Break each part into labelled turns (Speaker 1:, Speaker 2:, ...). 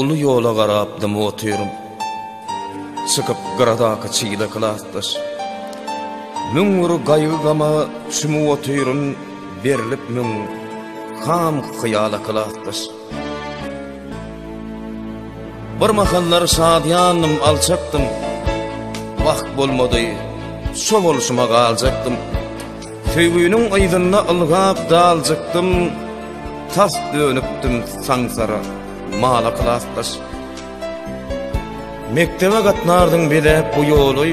Speaker 1: Uly ýola garap dymy otyryn. Çykyp gyradaky çyýda klasdaş. Müň bir gaýgy-gama çümüp otyryn, berlip müň ham hyýala klasdaş. Bir mahallar şadyýandym, alçakdym, Wagt bolmady, şo bolşuma galjakdym. Söýgüniň yzynda ylgap daljykdym, Tas dönükdim saňsara, mala klasdaş. Mekdebe gatnardyň bezäp bu ýoly,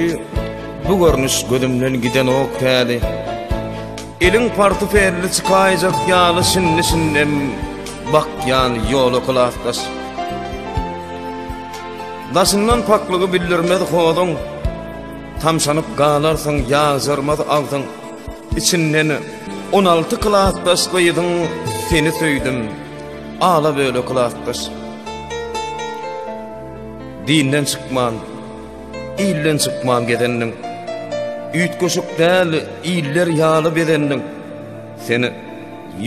Speaker 1: Bu görnüş gözümden gidenok täli. Elin partufelli çykaýjak ýaly şindi-şindem bakýan ýola kylafdaş. Daşyndan paklygy bildirmez hozuň, tamşanyp galarsyň ýazarmaz agzyň. Içinden 16 klasdaş gyzyň seni söýdüm. Ala böyle klasdaş. Dinden çykman Ilden çykman gezendiň. Üýtgeşik däl iller ýaly bezendiň. Sen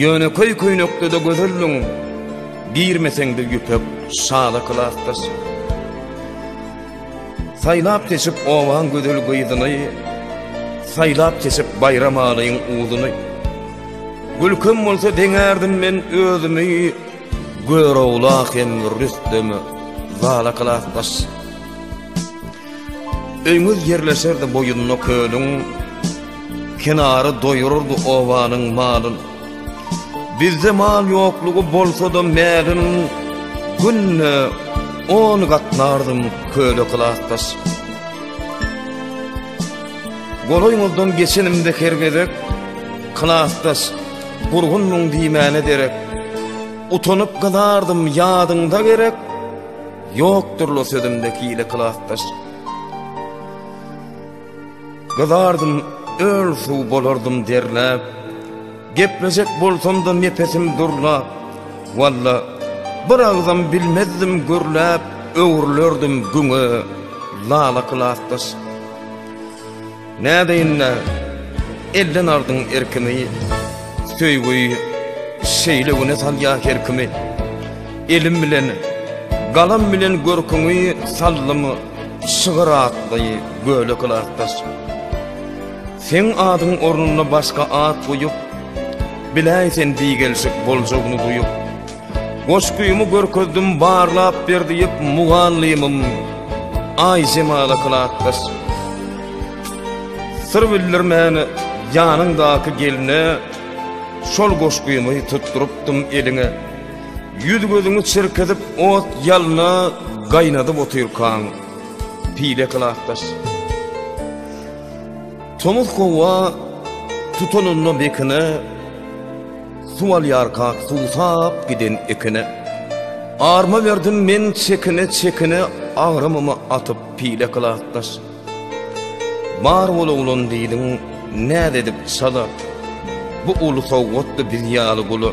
Speaker 1: ýönekeý köýnekde-de gözeldiň. Girmeseň-de ýüpek şala klasdaş. Saýlap seçip owaň gözel gyzyny, Saýlap seçip baýram alyň uzuny. Gülkem bolsa deňärdim men özümi, Görogla hem rüstemi zala klasdaş. Öýňüz ýerleşerdi boýunda kölüň, Kenary doýurardy obanyň malyn. Bizde mal ýoklugy bolsa-da mälin, Günde on gatnardym köle kylakdaş. Golaýňyzdan geçenimde her gezek, Kylakdaş, gurgunmyň diýmäne derek. Utanyp gyzardym, ýadyňda gerek, Ýokdur-la sözümde hile klasdaş. Gyzardym, öl-suw bolardym derläp, Geplejek bolsam-da nepesim durlap, Walla, bir agzam bilmezdim gürläp, Öwrülerdim güňe, lala klasdaş. Nädeýin-ä, elden aldyň erkimi, Söýgi şeýle güne salýa her kimi. Elim bilen, galam bilen görküňi saldym Şygyr atly gölek ylatdaş. Seň adyň ornuna başga at goýup, Biläý sen bigelşik boljagyny duýup. Goşgymy görkezdim barlap ber diýip mugallymym Aýjemal akylatdaş. Syr bildirmän ýanyňdaky gelne şol goşgymy tutdurypdym eliňe. Ýüz-gözüňi çirkizip ot ýalyna gaýnadyp otyrkaň pile kylatdaş. Tomus gowa tutanynda bekine Suw alýarka suwsap giden ekine, Arma berdim men çekine-çekine Agramymy atyp pile kylakdaş. Bar bol oglan diýdiň, näz edip çala, Bu uly sowgatdy biz ýaly gula.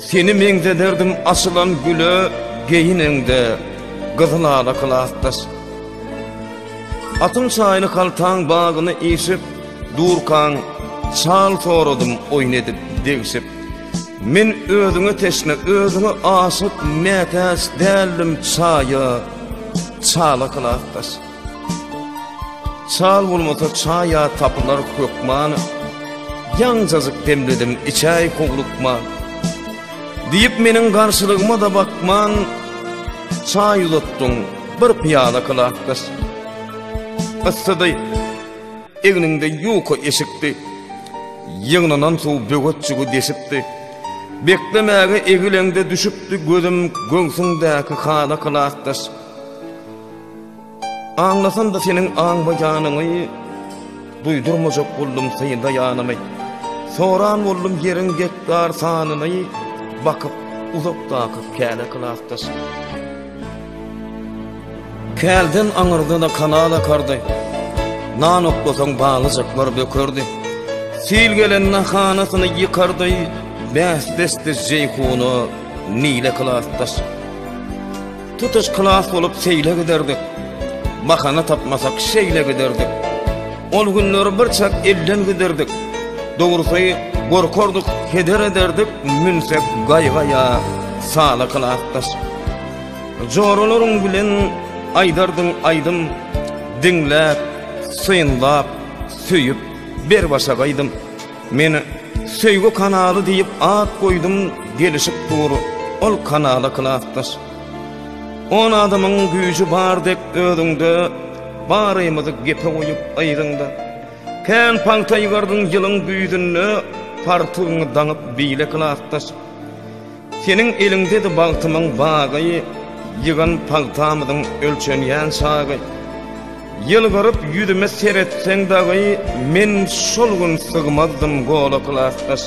Speaker 1: Seni meňzederdim açylan güle, Geýineňde gyzyl ala kylakdaş. Atyň çaýyny kaltaň bagyny işip, Durkaň, çal soradym oýun edip, degşip. Men özüňe teşne, özüňe aşyk, mätäç däldim çaýa, çala kylakdaş. Çal bolmasa çaýa tapylar hökman, ýaňjazyk demledim içäý howlukma. Diýip meniň garşylygyma da bakman, çaý uzatdyň bir pyýala kylakdaş. Yssydy, Egninde ýuka eşikdi. Ýygnanan suw böwetjigi deşipdi. Beklemäge egileňde düşüpdi gözüm göwsüňdäki hala klasdaş. Aňlasam-da seniň aňmaýanyňy, duýdurmajak boldum synlaýanymy. Soran boldum ýeriň gektar sanyny, bakyp uzakdaky käle klasdaş. Kälden aňyrda-da kanal akardy. Nan oklasaň balyjyklar bökerdi. Sil gelende hanasyny ýykardy. Bäsdesdi Jeýhuna, Nile klasdaş. Tutuş klas bolup seýle giderdik. Bahana tapmasak şeýle giderdik. Ol günleri birçak elden giderdik. Dogrusy, gorkardyk, heder ederdik, münsek gaýga ýa sala klasdaş. Joralaryň bilen aýdardyň aýdym, Diňläp, synlap, söýüp, ber başak aýdym. Men Söýgi kanaly diýip at goýdum, Gelişip dur ol kanala klasdaş. On adamyň güýji bar dek özüňde, Barymyzy gepe goýup yzyňda. Kän paňta ýygardyň ýylyň güýzünde, Partygyňy daňyp beýle klasdaş. Seniň eliňdedi bagtymyň bagy, Ýygan pagtamyzyň ölçenýän çagy. Ýylgyryp ýüzüme seretseň dagy, Men şol gün sygmazdym gola klasdaş.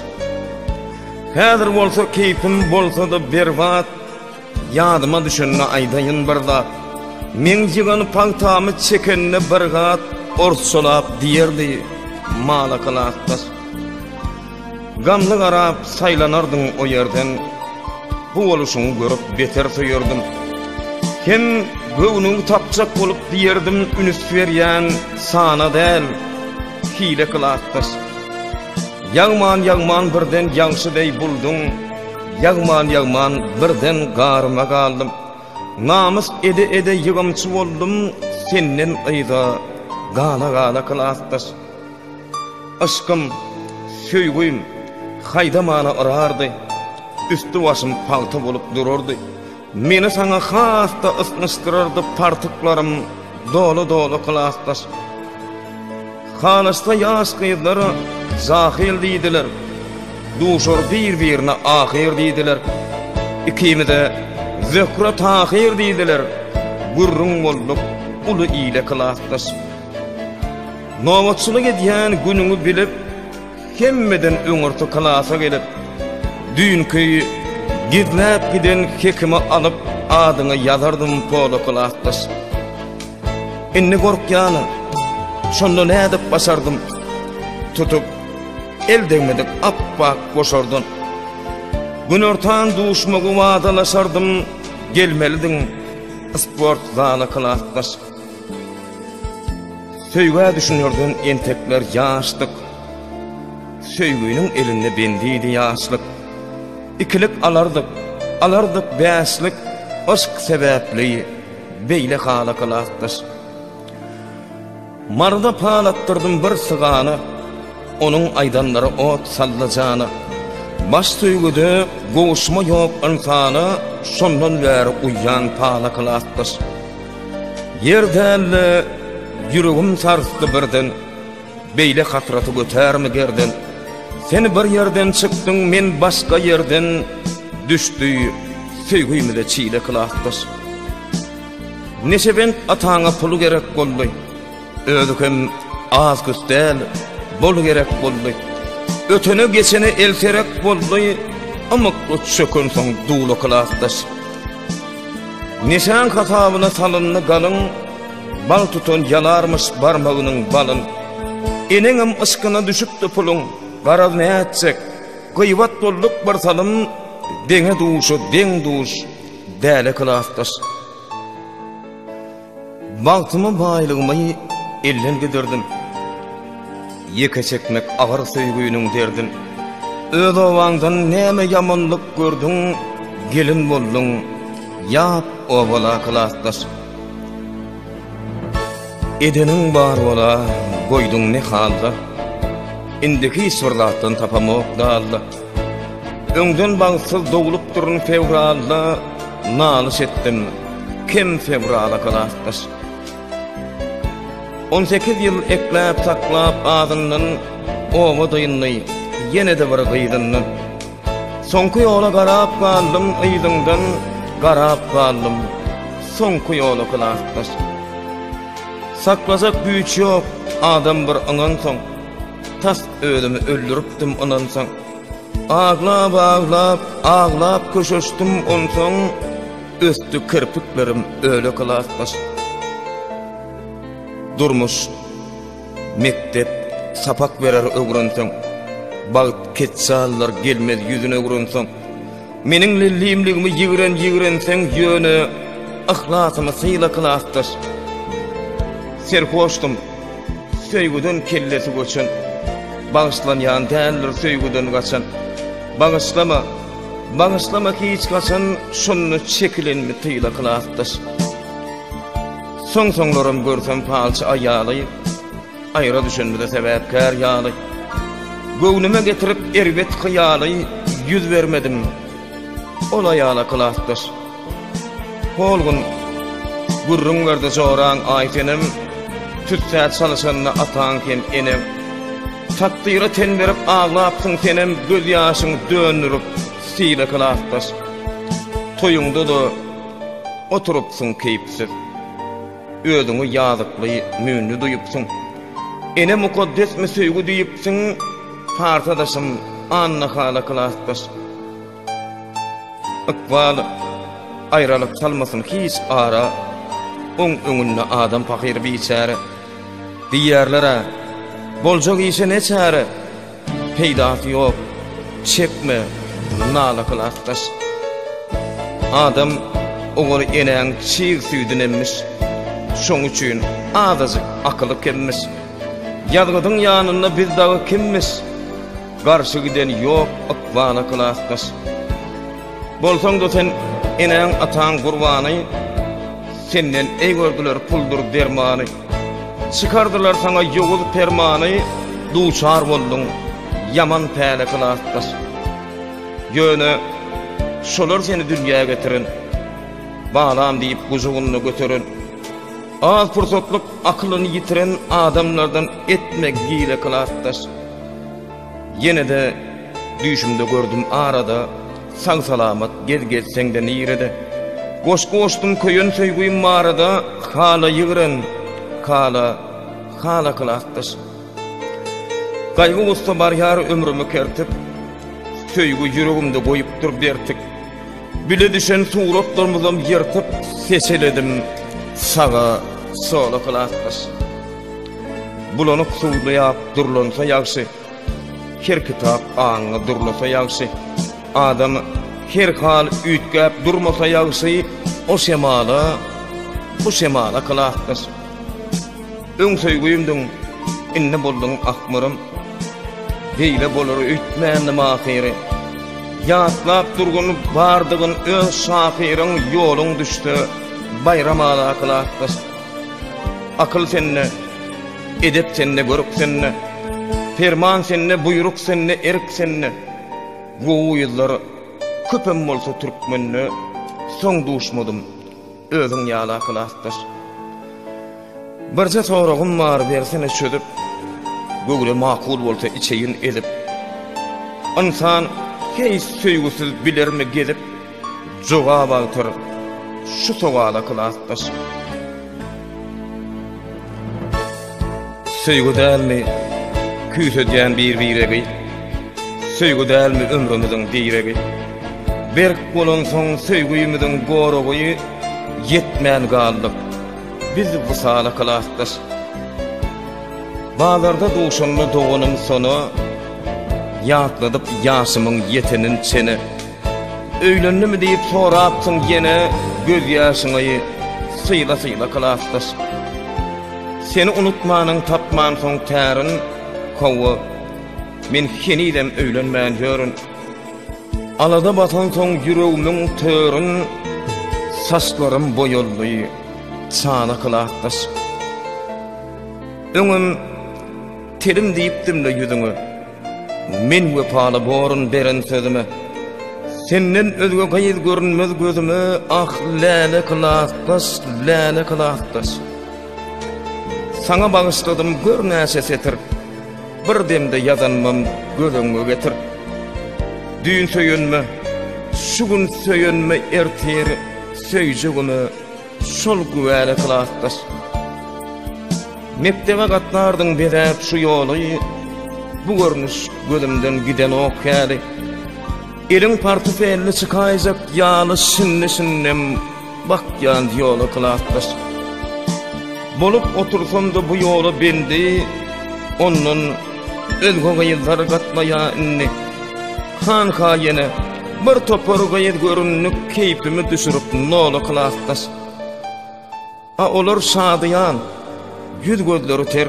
Speaker 1: Häzir bolsa keýpim bolsa-da berbat, Ýadyma düşende aýdaýyn bir zat. Meň ýygan pagtamy çekende bir gat, Orsçalap diýerdi, Mala klasdaş. Gamly garap saýlanardyň o ýerden, Bu boluşyňy görüp beter söýerdim. Hem göwnüňi tapjak bolup diýerdim, Üns berýän sana däl, hile kyl atdaş. Ýagman-ýagman birden ýagşy deý bulduň, Ýagman-ýagman birden garyma galdym. Namys ede-ede ýygymçy boldum, Senden yza gala-gala kyl atdaş. Yşkym, söýgim haýdamana yrardy, Üsti-başym pagta bolup durardy. Meni saňa has-da ysnyşdyrardy Partyklarym doly-doly klasdaş. Halyçda ýaş gyzlar jahyl diýdiler, Duşar bir-birine ahyr diýdiler. Ikimize Zöhre-Tahyr diýdiler, Gürrüň bolduk uly ile klasdaş. Nobatçylyk edýän günüňi bilip, hemmeden öňürti klasa gelip, düýnki gizläp giden hekimi alyp, adyňy ýazardym pola klasdaş. Indi gorkýanam. Şonda nädip başardym? Tutup, el degmedik apbak goşardan. Günortan duşmagy wadalaşardym, gelmelidiň sport zala klasdaş. Söýgä düşünerden entekler ýaşdyk, Söýginiň elinde bendidi ýaşlyk. Ikilik alardyk, alardyk bäşlik, Yşk sebäpli beýle hala gylatdyş. Maryda palatdyrdym bir sygana, Onuň aýdanlary ot saldy jana. Baş söýgüde gowuşma ýok ynsana, Şondan bäri uýýan pala gylatdyş. Ýer dälde ýüregim sarsdy birden, Beýle hasraty götärmi gerden? Sen bir ýerden çykdyň, men başga ýerden, Düşdi söýgimize çile klasdaş. Neşebent ataňa pul gerek boldy. Özi hem az-küs däl, bol gerek boldy. Ötene-geçene elterek boldy, ymykly çöken soň duwla klasdaş. Neşäň hasabyna salyndy galyn, bal tutan ýalarmyş barmagynyň balyn. Eneňem yşkyna düşüpdi puluň, garaz nätjek, gyýbat bolduk bir salym, deňe duşa deň duş, däle klasdaş. Bagtymy, baýlygymy elden giderdim, Ýeke çekmek agyr söýginiň derdin. Öz obaňdan näme ýamanlyk gördüň, Gelin bolduň ýat obala klasdaş. Edeniň bar bola, goýduň ne halda, Indi hiç bir zatdan tapamok dalda. Öňden bagtsyz doglupdyryn fewralda Nalyş etdim kim fewrala klasdaş On sekiz ýyl ekläp saklap azyndan Oba dyndy ýene-de bir gyzyndan Soňky ýola garap galdym yzyňdan Garap galdym soňky ýola klasdaş Saklajak güýç ýok adam bir ynansaň Tas özümi öldüripdim ynansaň Aglap aglap aglap köşeşdim onsaň Ösdi kirpiklerim öle klasdaş Durmuş mekdep sapak berer öwrenseň Bagt ketsallar gelmez ýüzüne öwrenseň Meniň lellimligimi ýigren-ýigrenseň ýöne yhlasymy syla klasdaş. Serhoşdym, söýgüden kellesi göçen, bagyşlanýan däldir söýgüden gaçan. Bagyşlama, bagyşlama hiç haçan şonda çekilenmi tyla klasdaş. Soň-soňlaram görsem palçy aýaly, Aýra düşenmize sebäpkär ýaly, Göwnüme getirip erbet hyýaly, Ýüz bermedim ol aýala klasdaş. Hol gün gürrüň berdi joraň aý senem, Tüssä çalyşanda ataň hem eneň. Takdyra ten berip aglapsyň senem, Gözýaşyň döndürip sile klasdaş. Toýuňda-da oturypsyň keýpsiz. Özüňi ýazykly, müýnli duýupsyň. Ene mukaddesmi söýgi diýipsiň, Pars adaşym, Annahala klasdaş. Ykbal, aýralyk salmasyn hiç ara, Oň öňünde adam pahyr biçäre. Diýýärler-ä, boljak işe ne çäre? Peýdasy ýok, çekme, nala kyl atdaş. Adam oňar enäň çig süýdün emmiş. Şoň üçin azajyk akyly kemmiş. Ýazgydyň ýanynda biz dagy kimmiş? Garşy giden ýok ykbala klasdaş. Bolsaň-da sen enäň-ataň gurbany, Senden eý gördüler puldur dermany. Çykardylar saňa ýowuz permany, Duçar bolduň ýaman päle kylasdaş. Ýöne şolar seni dünýä getiren, Balam diýip gujagynda göteren, Az pursatlyk akylyny ýitiren Adamlardan etme gile kylasdaş. Ýene-de düýşümde gördüm arada, Sag-salamat gez gezseň-de nirede. Goşgy goşdum köýen söýgim barada, Hala ýigren, hala, hala kylakdaş. Gaýgy-gussa barýar ömrümi kertip, Söýgi ýüregimde goýupdyr bertik. Bile düşen suratlarymyzam ýyrtyp, Seseledim saga, sola kylakdaş. Bulanyk suwly ýap durlansa ýagşy, Her kitap aňňy durlasa ýagşy, Adam her hal üýtgäp durmasa ýagşy, O şemala, bu şemala klasdaş. Öň söýgimdiň, indi bolduň ahmyrym, Beýle bolar öýtmändim ahyry. Ýatlap durgun bardygyn öz şahyryň, Ýoluň düşse baýram ala klasdaş. Akyl sende, edep sende, görk sende, Perman sende, buýruk sende, erk sende, Gowy ýyllar köpem bolsa türkmende, Soň duşmadym özüň ýaly akylasdaş. Birje soragym bar bersene çözüp, Göwne makul bolsa içeýin ezip. Ynsan heý söýgüsiz bilermi gezip, Jogap awtor şu sowala klasdaş. Söýgi dälmi küýsedýän bir biregi, Söýgi dälmi ömrümiziň diregi, Berk bolansoň söýgümiziň goragy, Ýetmän galdyk biz wysala klasdaş. Bazarda duşanda doganym sona, Ýatladyp ýaşymyň ýetenin çene, Öýlendimi diýip sorapsyň ýene göz ýaşyňy syla syla klasdaş Seni unutmanyň tapman soň tärin howwa men henizem öýlenmän ýörün Alada batan soň ýüregmiň törün saçlarym boýaldy çala klasdaş Öňem telim diýipdimle ýüzüňe. Men wepaly borun beren sözüme, Senden özge gyz görünmez gözüme, Ah, läle klasdaş, läle klasdaş. Saňa bagyşladym gör näçe setir, Bir demde ýazanmam göz öňüňe getir. Düýn söýenme, şu gün söýenme, ertir söýjegime, Şol güwäli klasdaş. Mekdebe gatnardyň bezäp şu ýoly, Bu görnüş gözümden gidenok häli. Eliň portfelini çykaýjak ýaly şindi-şindem bakýan ýola klasdaş. Bolup otursam-da bu ýola bendi, ondan Özge gyzlar gatnaýa indi. Hanha ýene bir topar gyz göründi keýpimi düşürip nola klasdaş. A olar şadyýan, ýüz gözleri ter.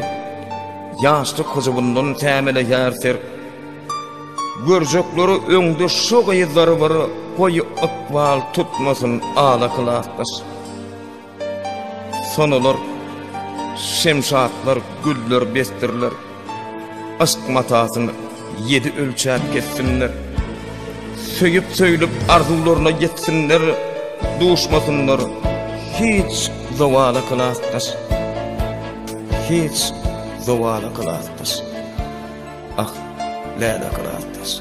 Speaker 1: Ýaşlyk hyjuwyndan tämeleýär ser. Görjekleri öňde şo gyzlar bir goýy ykbal tutmasyn ala klasdaş. Sonalar, şemşatlar, güller besdirler, Yşk matasyny ýedi ölçäp kessinler. Söýüp-söýlüp arzuwlaryna ýetsinler, Duşmasynlar hiç zowala kylasdaş, Hiç zowala kylasdaş, Ah, Läle kylasdaş.